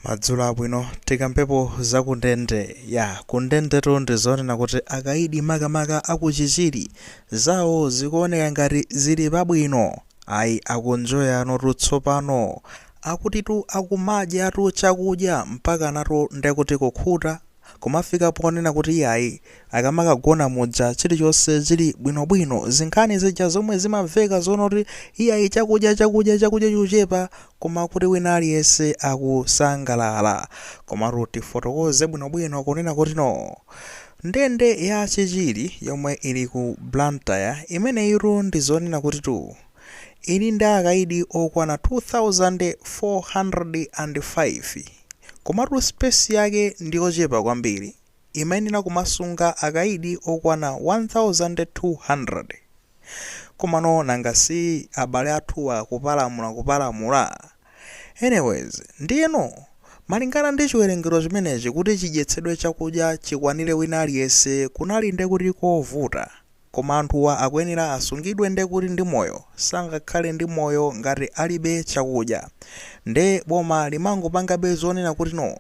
Madzulo abwino. Tikambepo za kundende. Ya, kundendetu ndi zonena kuti akaidi makamaka a ku Chichiri, zawo zikuoneka ngati zili pabwino. Ayi, akunjoyanotu tsopano. Akutitu akumadyatu chakudya mpakanatu ndekuti kukhuta kumafika ponena kuti iyayi akamakagona muja chilichonse chili bwinobwino, zinkhani zija zomwe zimamveka zonena kuti iyayi chakudya chakudya chakudya chikuchepa koma kuti wina aliyense akusangalala. Komatu tifotokoze bwinobwino kunena kuti no. Ndende ya Chichiri yomwe ili ku Blantyre imeneyitu ndi zonena kutitu ili ndi akaidi okwana 2,405. Komatu space yake ndiyochepa kwambiri, imayenera kumasunga akaidi okwana 1200. Komano nanga si abale athuwa kupalamula kupalamula? Anyways, ndiyeno malingana ndi chiwerengero chimenechi kuti chidyetsedwe chakudya chikwanire wina aliyense kunali ndekuti kovuta. Koma anthuwa akuyenera asungidwe nde kuti ndi moyo sangakhale ndi moyo ngati alibe chakudya nde boma limangopangabe zonena kuti no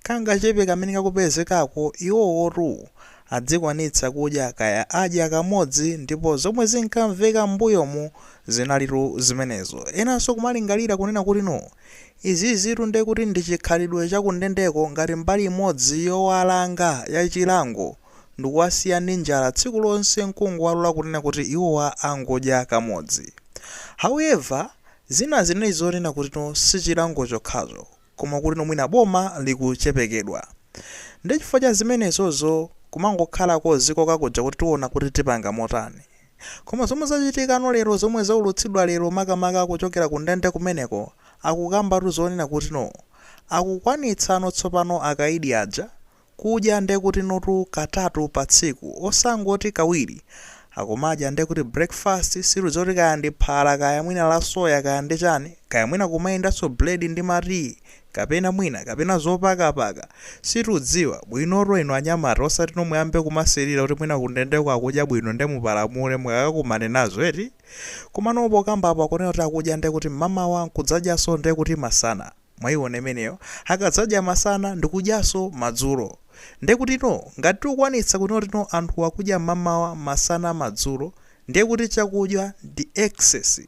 kangachepe kamene kakupezekako iwowotu adzikwanitsa kudya kaya adya kamodzi ndipo zomwe zinkamveka m'mbuyomu zinalitu zimenezo enanso kumalingalira kunena kuti no izizitu ndekuti ndi chikhalidwe chakundendeko ngati mbali imodzi yowalanga ya chilango ndikuwasiya ndi njala tsiku lonse nkungowalola kunena kuti iwowa angodya kamodzi. However, zina zinali zonena kutino sichilango chokhacho koma kutino mwina boma likuchepekedwa. Nde chifukwa cha zimenezozo kumangokhalako ziko kakuja kuti tiona kuti tipanga motani. Koma zomwe zachitikano lero zomwe zaulutsidwa lero makamaka kuchokera ku ndende kumeneko akukambatu zonena kutino akukwanitsano tsopano akaidi aja Kudya ndekutinutu katatu pa tsiku osangoti kawiri. Akumadya ndekuti breakfast situdziwa kuti kaya ndi phala kaya mwina la soya kaya ndi chani kaya mwina kumayendanso bread ndi ma tea kapena mwina kapena zopakapaka situdziwa bwinotu inu anyamata osatino muyambe kumasilira kuti mwina kundendeko akudya bwino nde mupalamule mukakakumane nazo eti komano pokamba apo akunena kuti akudya ndekuti mmamawa nkudzadyanso ndekuti masana. Mwaiona imeneyo? Akadzadya masana ndikudyanso madzulo. Ndiye kutino ngati tikukwanitsa kutino kutino anthu akudya mmamawa, masana, madzulo, ndiye kuti chakudya ndi excess.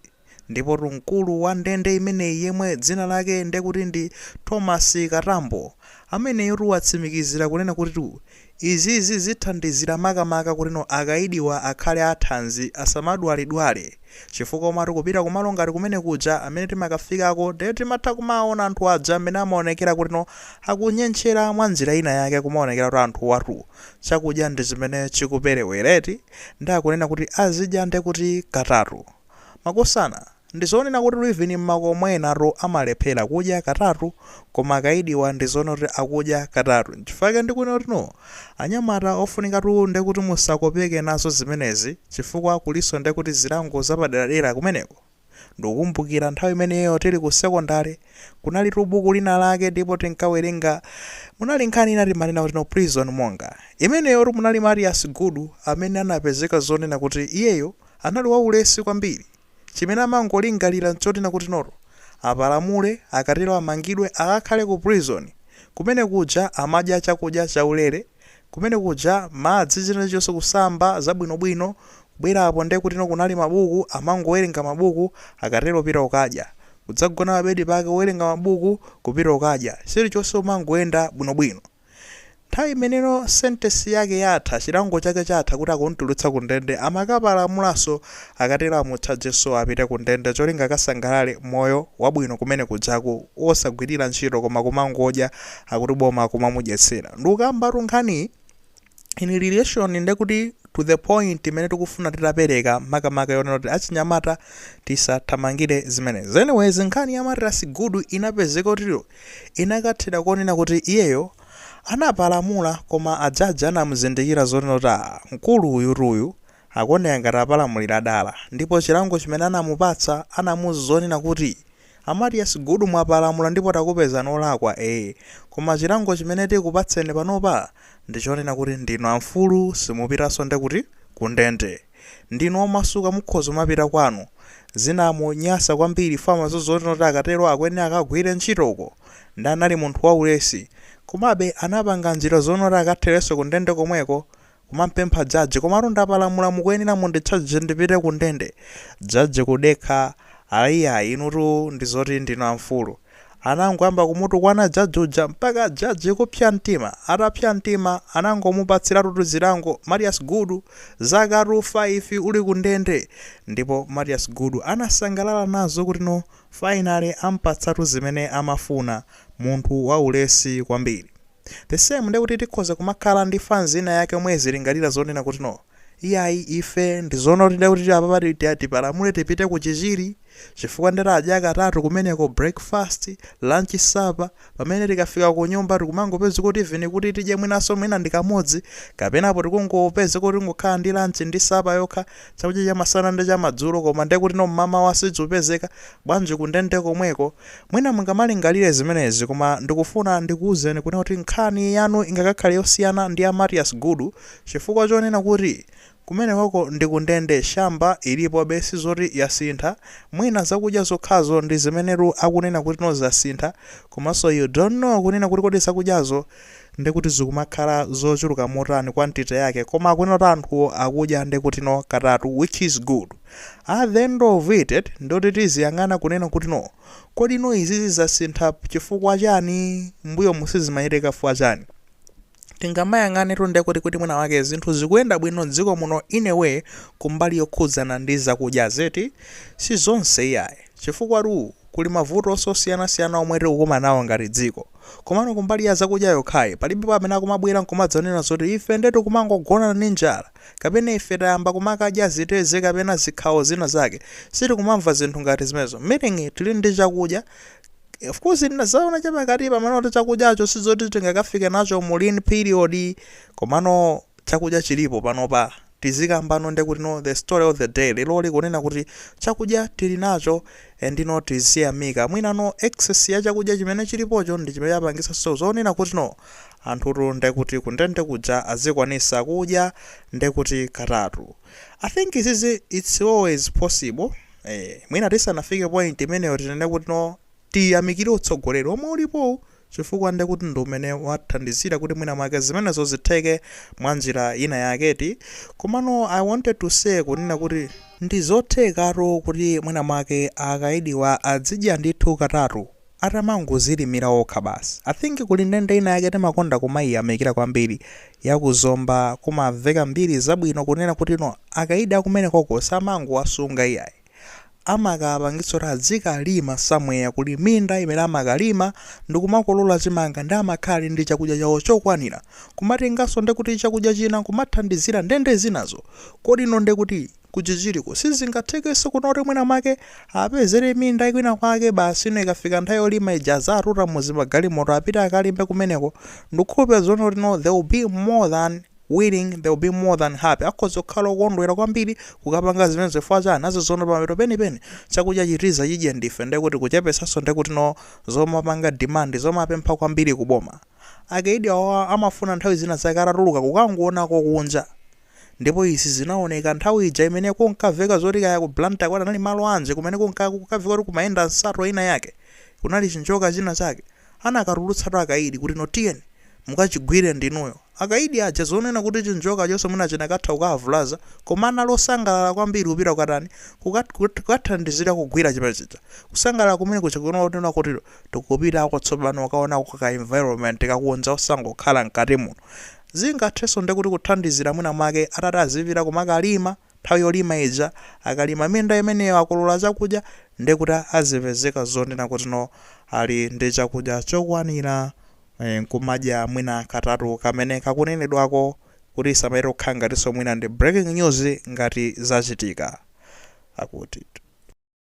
Ndipotu mkulu wa ndende imeneyi yemwe dzina lake ndiye kuti ndi Thomas Katambo, ameneyotu watsimikizira kunena kutitu Izizi zithandizira makamaka kutino akayidiwa akhale athanzi asamadwalidwale chifukwa umati ukupita kumalo ngati kumene kuja amene timakafikako ndiye timatha kumawawona anthu aja mmene amaonekera kutino akunyentchera mwa njira ina yake kumaonekera kuti anthuwatu chakudya ndi chimene chikuperewera eti nde akunena kuti azidya ndekuti katatu Makosana, ndizonena kutitu even mmakomo enatu amalephera kudya katatu koma akaidiwa ndizoona kuti akudya katatu nchifukwa chake ndikunena kuti no anyamata ofunikatu ndekuti musakopeke nazo zimenezi chifukwa kulinso ndekuti zilango zapaderadera kumeneko. Ndikukumbukira nthawi imeneyo tili ku secondary kunalitu buku lina lake ndipo tinkawerenga munali nkhani ina timanena kuti no prison monger imeneyotu munali Matias Gudu amene anapezeka zonena kuti iyeyo Anali waulesi kwambiri. Chimene amangolingalira nchoti Nakutinoto apalamule, akatero amangidwe, akakhale ku prison. Kumene kuja amadya chakudya chaulere, kumene kuja madzi, china chilichonse, kusamba, zabwinobwino. Kubwera apo nde kutino kunali mabuku, amangowerenga mabuku, akatero kupita kukadya. Kudzagona pa bedi pake, kuwerenga mabuku, kupita kukadya. Chilichonse kumangoyenda bwinobwino. Nthawi imene no sentence yake yatha, chilango chake chatha kuti akumtulutsa ku ndende, amakapalamulanso akatero amutchajenso apite ku ndende cholinga akasangalale moyo wabwino kumene kujaku wosagwirira ntchito koma kumangodya akuti boma kumamudyetsera. Ndikukambatu nkhaniyi. in relation ndekuti to the point imene tikufuna titapereka makamaka yonena kuti achinyamata tisathamangire zimenezi anyways nkhani ya Matias Gudu inapezeka kutino inakathera konena kuti iyeyo anapalamula koma ajaji anamuzindikira zonena kuti "Ah, mkulu uyutu uyu akuoneka ngati apalamulira dala ndipo chilango chimene anamupatsa anamuuza zonena kuti a Matias Gudu mwapalamula ndipo takupezani olakwa ee koma chilango chimene tikupatseni panopa ndichonena kuti ndinu amfulu simupitanso nde kuti Ku ndende ndinu omasuka mukhoza kumapita kwanu zinamunyasa kwambiri famazo zonena kuti akatero akuyenera akagwire ntchito uko nde anali munthu waulesi komabe anapanga njira zonena kuti akatherenso Ku ndende komweko Kumampempha judge, komatu ndapalamula mukuyenera munditchaje ndipite ku ndende. Judge kudekha, Ayiayi inutu ndizoti ndinu amfulu. Anangoyamba kumutukwana judge uja mpaka judge kupsa mtima. Atapsa mtima anangomupatsiratutu zilango Matias Gudu, zakatu 5 uli ku ndende. Ndipo Matias Gudu anasangalala nazo kuti no finally ampatsatu zimene amafuna. Munthu waulesi kwambiri. The same nde kuti tikhoza kumakhala ndi fans ina yake yomwe izilingalira zonena kuti no iyayi ife ndi zoona kuti nde kuti apapa ti- ti- tipalamule tipite ku Chichiri chifukwa nde tadya katatu kumeneko breakfast, lunch, supper pamene tikafika kunyumba tikumangopeza kuti even kuti tidye mwinanso mwina ndi kamodzi kapena apo tikungopeza kuti tingokhala ndi lunch ndi supper yokha chakudya chamasana ndi chamadzulo koma nde kuti no mmamawa sichikupezeka Bwanji kundende komweko? Mwina mungamalingalire zimenezi, koma ndikufuna ndikuuzeni kunena kuti nkhani yanu ingakakhale yosiyana ndi ya Mathias Gudu chifukwa chonena kuti kumenekoko ndi kundende, shamboki ilipobe sizoti yasintha, mwina zakudya zokhazo ndi zimenetu akunena kuti no zasintha, komanso you don't know kunena kuti kodi zakudyazo nde kuti zikumakhala zochuluka motani quantity yake koma akunena kuti anthuwo akudya nde kuti no katatu which is good. At the end of it nditi tiziyang'ana kunena kuti no kodi no izizi zasintha chifukwa chani mbuyomu sizimachitika chifukwa chani tingamayang'anetu ndekuti kuti mwina mwake zinthu zikuyenda bwino dziko muno in a way kumbali yokhudzana ndi zakudya eti sizonse iyayi chifukwatu kuli mavutonso osiyanasiyana omwe tikukumanawo ngati dziko komano kumbali ya zakudya yokhayi palibepo amene akumabwera nkumadzanena zoti ife nde tikumangogona ndi njala kapena ife tayamba kumakadya zitedze kapena zikhawo zina zake sitikumamva zinthu ngati zimenezo meaning tili ndi chakudya of course ndinazaona chapakati pamene kuti chakudyacho sizoti tingakafike nacho mu lean period komano chakudya chilipo panopa tizikambano ndi kuti no the story of the day lero likunena kuti chakudya tili nacho and no tiziyamika mwina no excess ya chakudya chimene chilipocho ndi chimene chapangitsanso zonena kuti no anthutu nde kuti kundende kuja azikwanisa kudya nde kuti katatu i think izizi its always possible ee mwina tisanafike point imeneyo tinene kuti no tiyamikire utsogoleri omwe ulipowu chifukwa nde kuti ndi umene wathandizira kuti mwina mwake zimenezo zitheke mwa njira ina yake eti komano i wanted to say kunena kuti ndizothekatu kuti mwina mwake akaidiwa adzidya ndithu katatu atamangozilimira okha basi. I think kuli ndende ina yake timakonda kumaiyamikira kwambiri ya ku Zomba kumamveka mbiri zabwino kunena kuti no akaidi akumenekoko samangowasunga iyayi. Amakawapangitsa kuti adzikalima somewhere kuli minda imene amakalima ndikumakolola chimanga nde amakhala ali ndi chakudya chawo chokwanira kumatenganso ndekuti chakudya china kumathandizira ndende zinazo kuti no ndekuti ku chichiriko sizingathekenso kuno kuti mwina mwake apezere minda kwina kwake basi ino ikafika nthawi yolima ija azatuta muzimagalimoto apite akalime kumeneko ndikukhulupira zonena kuti no they will be more than willing they will be more than happy akhoza kukhala okondwera kwambiri kukapanga zimenezi chifukwa chani nazonso pamapeto penipeni chakudya chitiza chidye ndife ndekuti kuchepetsanso ndekuti no zomapanga demand zomapempha kwambiri kuboma akaidi awa amafuna nthawi zina zake atatuluka kukangoonako kunja Ndipo izi zinaoneka nthawi ija imene kunkaveka zoti kaya ku Blantyre kwati anali malo anji kumene kunka kunkaveka kuti kumayenda nsato ina yake, kunali chinjoka china chake, anakatulutsatu akaidi kuti no tiyeni mukachigwire ndinuyo. Akaidi aja zonena kuti chinjokachoso mwina chinakatha kukaavulaza koma anali osangalala kwambiri kupita kukatani, kukathandizira kugwira chimene chija. Kusangalala kumene kuja kunanena kuti tikupitako tsopano kukaonako ka environment kakunja osangokhala mkati muno. Zingathenso nde kuti kuthandizira mwina mwake atati azipita kumakalima nthawi yolima ija, akalima minda imeneyo akolora chakudya nde kuti azipezeka zonena kuti no ali ndi chakudya chokwanira nkumadya mwina katatu kamene kakunenedwako kuti isamachite kukhala ngatinso mwina ndi breaking news ngati zachitika. Akutitu.